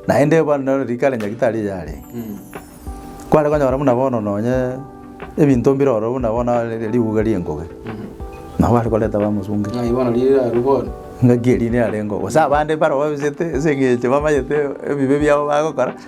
Naende bono nero riko are nyagitari eye are. Kware konyora buna bono nonye ebinto mbire ororo buna bono are riuga ri'engobe. Nabo are koreta bamosunge. Ng'ai bono riire arwe bono? Ng'aki eri niarengeo. Gose abande mbarobabisete ase eng'encho bamayete ebibe biabo bagokora.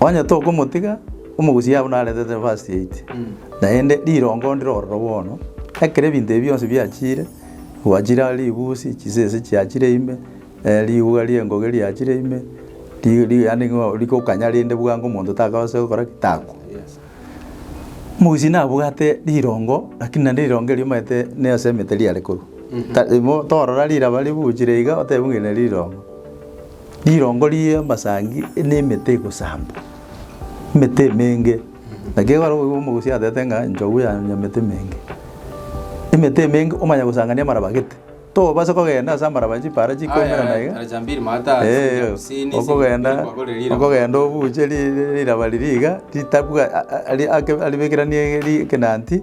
Onye tokomotiga, omogusia abwo naretete verse 8, naende rirongo ndire ororo bono, ekero ebinto ebi bionsi biachire, gwachire are ribusi, chisese chiachire ime, eh, riuga ri'engoge riachire ime, ri- ri yaani ng'a rigokanya rende bwango omonto takabasa gokora ki? Takwa. Omogusia nabwate rirongo, lakini naende rirongo erio omanyete ne ase emete riare korwa. Ta- imo- torora riraba ribuchire iga, oteba ng'a eri neri rirongo. Rirongo ri'amasangi nemete egosambwa, emete emenge, na kegora oboigo bwa omogosi atebete ng'a enchogu yane emete emenge. Emete emenge omanya gosangania amaraba gete, tobasa kogenda ase amaraba chipaara chikoimerana iga, eeh, okogenda okogenda obuche ri- ri- riraba riria iga, ritabwa a- a- ari ake aribekeranie ri ekenanti.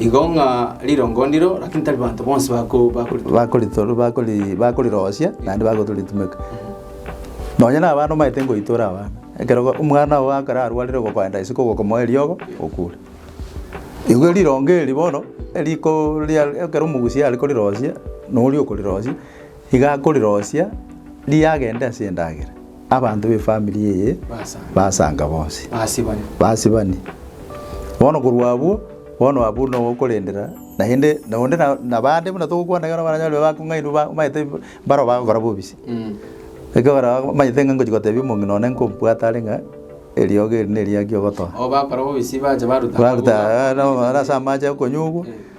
Igo ng'a rirongo ndiro, lakini tari banto bonsi bako- bakoritoma. bakoritor- bakori- bakorirosia naende bagotoritumeka nonye na abana omanyete ngoitora abana ekero go- omwana oo ekero arwarire ogokoenda isiko ogokomoa eriogo okure igo rirongo eri bono eriko ria ekero omogusia are korirosia noria okorirosia iga akorirosia riagende ase endagera. Abanto b'efamiri eye basanga bonsi, basibani. Bono korwa abwo, bono abwo nogokorendera, naende onde na- nabande buna togokwana ekero baranyare babe bakong'ainwa ba- omanyete mbaro bagokora bobisi. Ekero baraba omanyete ng'a ngochi gotebia omong'ina one nkombwate are ng'a eriogo eri neriaki ogotoa. Baruta ase amache okonywa okwo,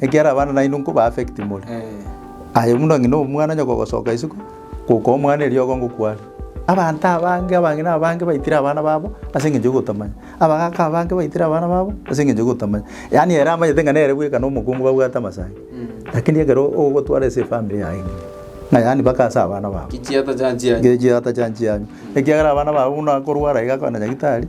Ekiagera abana nainwe nko ba affect more. Aye buna ng'ina omwana onye kogosoka isiko, goka omwana eriogo ngokwa are. Abanto abange abang'ina abange baitire abana babo ase eng'encho yogotamanya. Abagaka abange baitire abana babo ase eng'encho yogotamanya. Yaani ere amanyete ng'a nere bweka na omokungu babwate amasaga. Lakini ekero ogotwara ase efamiri yaye ng'ina, ng'a yaani mpaka ase abana babo. Gechiata chanchianyu. Gechiata chanchianyu. Ekiagera abana babo buna akorwara iga akona nyagitari.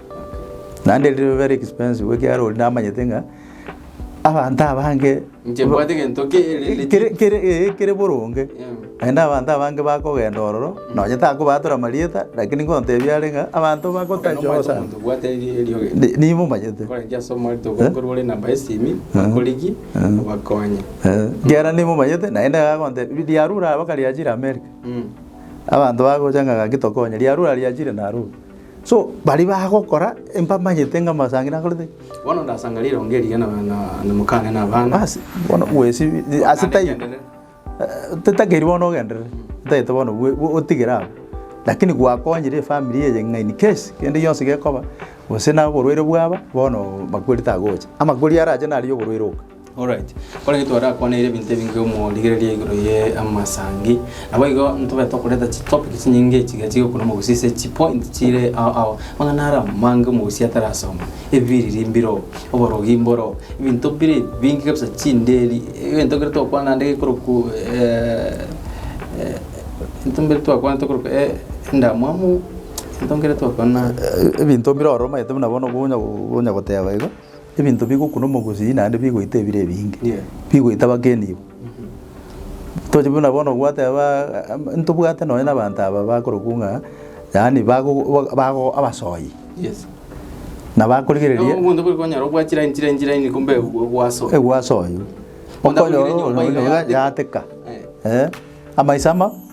Naende riri very expensive ekiagera oria namanyete ng'a abanto abange Inche mbwate gento ki ere kere kere eh, kere boronge naende abanto abange bakogenda ororo nonye takobatora amarieta lakini ngontebie are ng'a abanto bagotachoa sana Ni- nimomanyete Eh, ekiagera nimomanyete naende agonte riarure abakare riachire America abanto bagocha ng'a gaki tokonye riarure riachire narure. So baria bagokora mbamanyete ng'a Masangina akorete ki? Bono ndasanga rirongo eriya na- na- na- na mokane na abana. Basi, bono bwesibie Mokane ase tai agenderere. Eh, totakeiri bono ogenderere, otagete bono bwe- bwe- otigere abwo. Lakini gwakonyire efamiri eye ng'a in case kende gionsi gekoba, gose na oborwaire bwaba, bono makori tagocha. Amakori arache nari oborwaire oka. Alright, korende twarakwaneirie ebinto ebinge omorigereria igoro ye amasangi. Naboigo ntobe tokoreta chi topic chinyinge chiga chire okuna omogusi ase chi point chire ao ao. Amang'ana ara amange omogusi atarasoma. Ebiriri mbiro, oborogi mboro, ebinto bire ebinge kabisa chinderi, egento kere tokwana ande gekorokwa egento mbire twakwana tokorokwa endamwamu, egento nkere twakwana ebinto mbire ororo omanyete buna bono okonya goteba igo. ebinto bigokuna omogusii naende bigoita ebire ebinge, bigoita abageni ibo. Toche buna bono gwateba am- ntobwate nonye na abanto aba bakorokwa ng'a yaani bagogo ba- bago abasoyi, na bakorigereria Omonto bwe kwanyora obwachire enchire enchire enchire enchire kumbe gwa- gwasoa. egwasoywa. Okonyorwa Otabwire nyomba iga yateka. yateka, Eh. eh, amaiso ama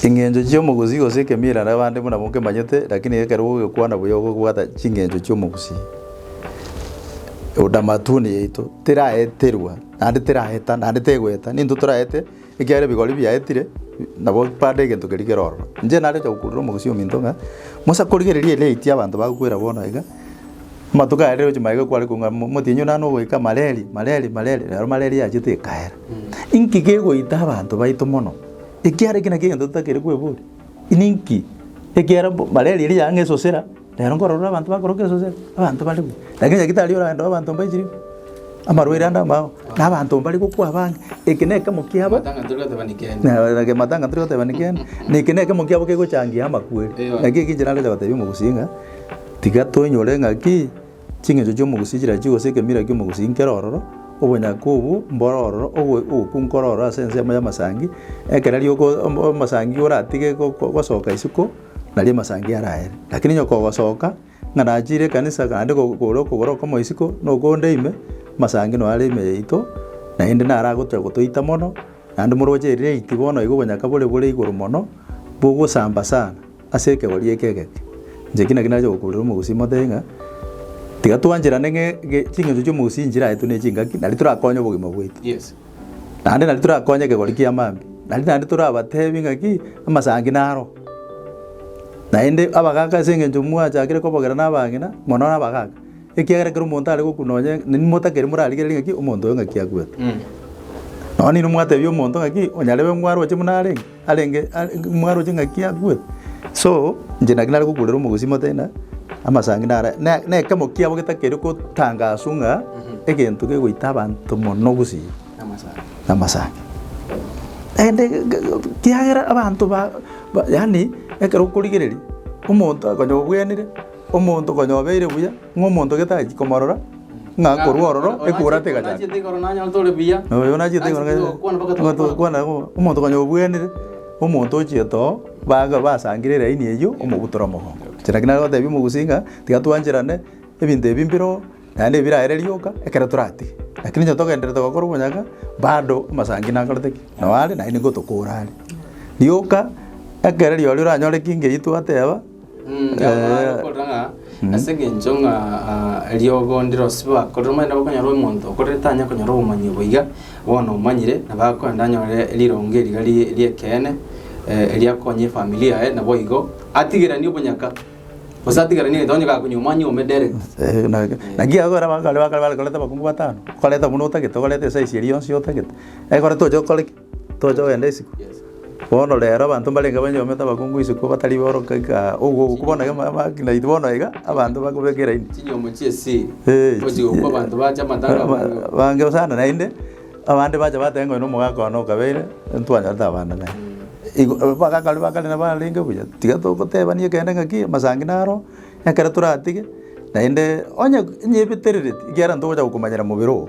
Chingencho chi'omogusi gose ekemira nabande buna mokemanyete, lakini ekero gogekwana buya ogobwata chingencho chi'omogusi, eutamatuni yaito teraeterwa naende teraeta naende tegoeta. Ninto toraete ekiagera ebigori biaetire nabo bande egento keria kere ororo. Inche nare gocha gokurera omogusi ominto ng'a, mosa korigereria elate ya abanto bagokwera bono iga, amatuko aya rero ochi magega kware kong'a motienyi one nare nogoika mareri mareri mareri, nero mareri yachete ekaera. Inki kegoita abanto baito mono, ekiara eke nakio egento totakeire kweboria? Ninki ekiara mbo malaria eria yaang'a esosera, rero nkorora abanto bakoroka esosera, abanto bare buya. Lakini nyagetari oragenda noo abanto mbache riko, amarwaire ande amao, na abanto mbare gokwa abang'e. Eke na ekemo kiabo, Matanga tori goteba ni kende. Nabo matanga tori goteba ni kende, na eke na ekemo kiabo kegochangia amakweri. Naki eki inche nagocha gotebia omogusi ng'a, tiga toinyore ng'a ki. Chingencho chi'omogusi chirachiwe gose ekemira ki'omogusi inkere ororo, obonyaka obwo mbore ororo, ogo ogokwa nkore ororo ase ensemo y'amasangi, ekero aria oko ombo omosangi oratige go- go- gosoka isiko, naria amasangi araere. Lakini onye kogosoka, ng'a nachiire ekanisa naende ko- kore okogoro okomo isiko, na okonde ime, amasangi noyo are ime yaito, naende naro agocha gotoita mono, naende moroche eria late bono igo obonyaka bore bore igoro mono, bogosamba sana. Ase ekegori eke egeke, inche ki naki nache gokoorera omogusii mote ng'a tiga twancherane ng'a ge ching'encho chi'omogusii nchiraetwe ne chingaki, nario torakonye obogima bwaito. Yes. Naende nario torakonye ekegori kia maambia, nario naende torabatebi ng'a ki, amasangi naro. Naende abagaka ase eng'encho mwachakire kobogera na abang'ina, mono na abagaka, ekiagera ekero omonto are gokwa nonye nainwe motakeri morarigereri ng'a ki, omonto oyo ng'aki akwete. Nonya nainwe mwatebia omonto ng'a ki, onyarebe ng'o aroche buna arenge. Arenge mwaroche ng'aki akwe? So, inche naki nare gokurera omogosi motena, amasangi nara ne- nekemo kiabo getakeri gotangaswa ng'a egento kegoita abanto mono gusii namasangi. Naende ge- ge- ge kiagera abanto ba ba yaani ekero okorigereria, omonto akonye obwenerete. Omonto konya obeire buya, ng'a omonto gete achi komorora, ng'a korwa ororo ekurata egachaka. Oyo nachiete igoro nanyora tore buya. Oyo nachiete igoro nanyora tore buya. Ntogokwani mpaka tokwana. Omonto konya obwenire, omonto ochiete oo, baga basangire eraini eyio, omobutore omogongo. Inche naki nagotebia omogusii ng'a tiga twancherane, ebinto ebi mbire oo, naende ebirarere rioka, ekero toratige. Lakini onye togendererete gokora obonyaga, bado amasangi nakorete ki? Nao are, naende nigo tokora are. Rioka, ekero rirorio oranyore ki ng'eyio twateba. Ngamanyare okorora ng'a ase engencho ng'a eriogo ndiro ase bakorire, omanyete nabo okonyora omonto okorire tanya konyora obomanyi obo iga, bono omanyire nabo akoenda anyore rironge riria ri- ri'ekeene eriakonye efamiri yaye naboigo atigeranie obonyaka, gose atigeranie egento onye gakonywa omwanya oime direct. Eeh na- naki iga ekero bakare bakare barekoreta abakungu batano, okareta buna otagete, okareta esayisi eria yonsi otagete, ekero tocha okore ki? Tocha kogenda isiko. Bono rero abanto mbarenge banyomete abakungu isiko batari boroka igaa, ogogo ogo bono egemo abaki naintwe bono iga, abanto bakobeka eraini. Chinyomo chia esiri. Eeh. Gochi gokwa abanto bache amatanga amange. Abange sana naende, abande bacha bateba ng'a oyo na omogaka one okabeire, ntwanyorete abana naye. Igo abagaka baria ba kare nabo barenge buya, tiga togotebania kende ng'aki, amasangi naro, ekero toratige, naende onye onye ebeterereti, ekiagera ntogocha gokomanyera mobere oo.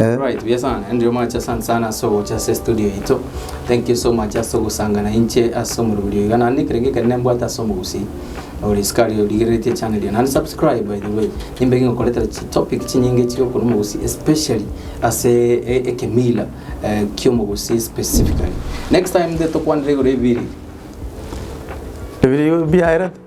Alright, buya sana. Andrew Mwach, asante sana ase ogocha ase studio yaito. Thank you so much ase ogosangana inche ase omoruburio iga. Naende ekero geke nembwate ase omogusii ore sikari origereretie channel eye. Naende subscribe by the way. Nimbe ngingokoretera chi topic chinyinge chire okoru omogusii especially ase e- ekemila eh, kiomogusii specifically. Next time nde tokwanere igoro ebiri. Ebirio biaerete.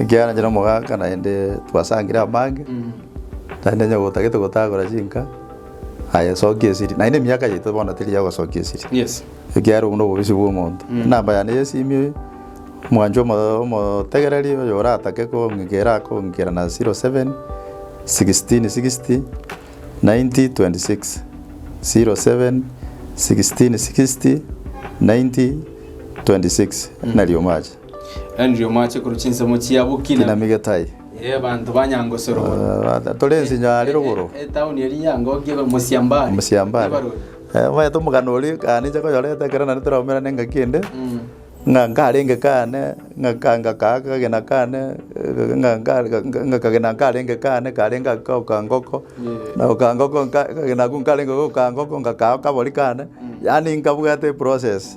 Ekiagera inche nomogaaka naende twasangire amage, naende onye gotagete gotagora chinka, aye soki esiri. Naende emiaka yaito bono teri ya gosokia esiri, ekiagera obwo nobobisi bw'omonto. Enamba yane y'esimi eye, omwancho omo- omotegereri oyo oratake kong'ikera akong'ikera na zero seven, sixteen sixty, ninety twenty six, zero seven, sixteen sixty, ninety twenty six, nari omache. Henry omoache korwa chinsemo chia bokina. Kinami Getahi. Ee, banto ba Nyangosoro bono. Ah, Tore ensinyo are rogoro. E- e- Etauni eri ya Ngoki ebe Mosiambari. Mosiambare. Ebarori. Eh, omanyete omogano oria ekero ninche nkoyoreta ekero naende toraumera na engaki ende, Mm. ng'a nkarenge kane, ng'a ka- ng'a ka- kagena kane, eh, ng'a nka- ng'a- ng'a kagena nkarenge kane karenge ake goka ngoko, Yeah. na goka ngoko nka- kagena ako nkarenge goka ngoko ng'akaa kabori kane, yaani nkabwate eprocess.